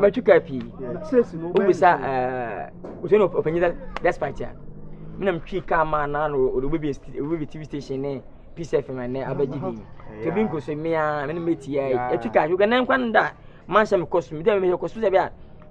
matwika pii wobisa wosɛ no ɔpanyin sɛ despite a mena metwii kaa ma na no ɔde wobɛbi tv station ne peace fm ɛnɛ abɛgye bi nti obi nkɔ so mea mene mɛtia atwi kaa hwɛ kɛ nɛ nkwa no da manhyɛ mekɔ so mede mehwɛ kɔ so sɛ bi a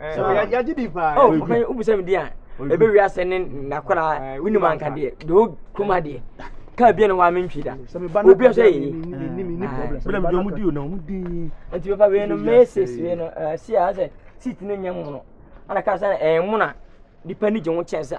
yɛgye di paa oh ɔpɛ wobisa me di a ɛbɛ wi asɛ ne nakora wonim anka deɛ de wo kuma deɛ kaa bia ne hɔ a mentwi da obi sɛ yɛyi nti bɛfa wei no meses wei no si a sɛ seat no nyɛ mono ana kaa sɛ ɛmono a nipa ni gye ho kyɛn sɛ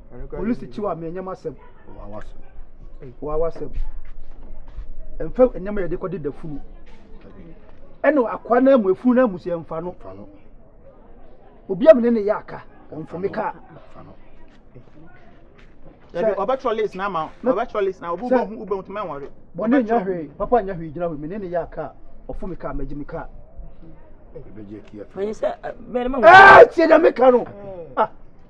polisi kyiw a menyam asɛm wawa asɛm mfa nneɛma yɛde kɔde da funu ɛna akoa no amu efunu no amusi mfa no obi a mene ne yɛ aka ɔmfa me kaa ɔbɛtwerɛ list na ama ɔbɛtwerɛ list na wobɛhu wobɛhu tuma nwɔre bɔne nyɛ hwee papa nyɛ hwee gyina hɔ mene ne yɛ aka ɔfo me kaa magye me kaa ɛbɛgye atia fɛ ɛɛ tiɛ na me ka no ah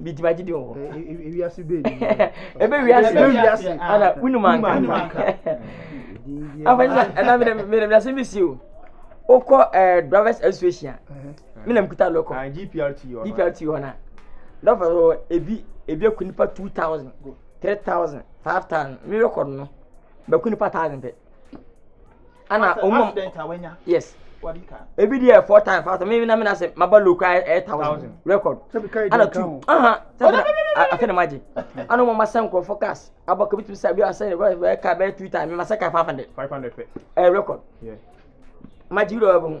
bidi ba gidi wɔ ewiase bɛ ni ebe wiase ebe wiase ana wunum anka afɔnyisa ɛna mi na mi na mi na se mi si o o kɔ ɛɛ drivers association mi na mi kuta lɔkɔ dprt yɔ dprt yɔ na lɔfɔ yɔ ebi ebi eku nipa two thousand three thousand five thousand mi yɔ kɔ no bɛ ku nipa thousand pɛ. ana ɔmo accident a wanya yes wadi ka ebi deɛ four times five times mi na mi na se ma ba low kura ɛyɛ thousand record ana two aha sɛbi afɛ na ma gye ana ɔmo ma sɛ nkorɔfo cars abɔ kabi tumi sɛ bi asɛ ɛyɛ car bɛyɛ two times mi ma sɛ car five hundred five hundred fɛ ɛyɛ record ma gye bi dɔ ɛbɛ ho.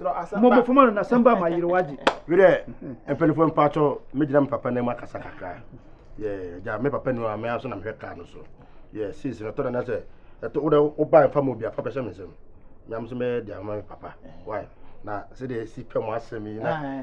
mɔbɔfo ma no nasɛm ba ma yere wagye bi dɛ mpanyinfoɔ mpatsɔ megyina me papa nam akasa kakra yɛ gya me papa nu a me aso na mehwɛ kaa no so yɛ sisi no tɔ na sɛ ɛtɔ wo dɛ woba mfa ma obi afa bɛhyɛ me nsɛm nyam so mɛyɛ de ama me papa why na sɛdeɛ ɛsi pɛ mo asɛm yi na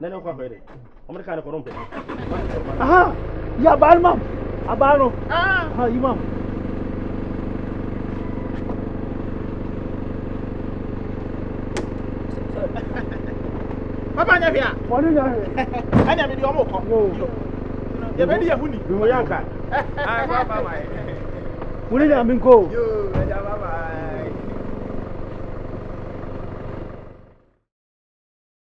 na ne nkɔ akɔyɛ dɛ ɔmo de kaa ne kɔ no mpɛ aha yi abaa no mam abaa no aha yi mam papa nyɛ hwɛ a wɔne nyɛ hwɛ ɛne ɛmede ɔmo kɔ yɛbɛde yɛ ho ni wo yɛ nka wone nyame nkɔ o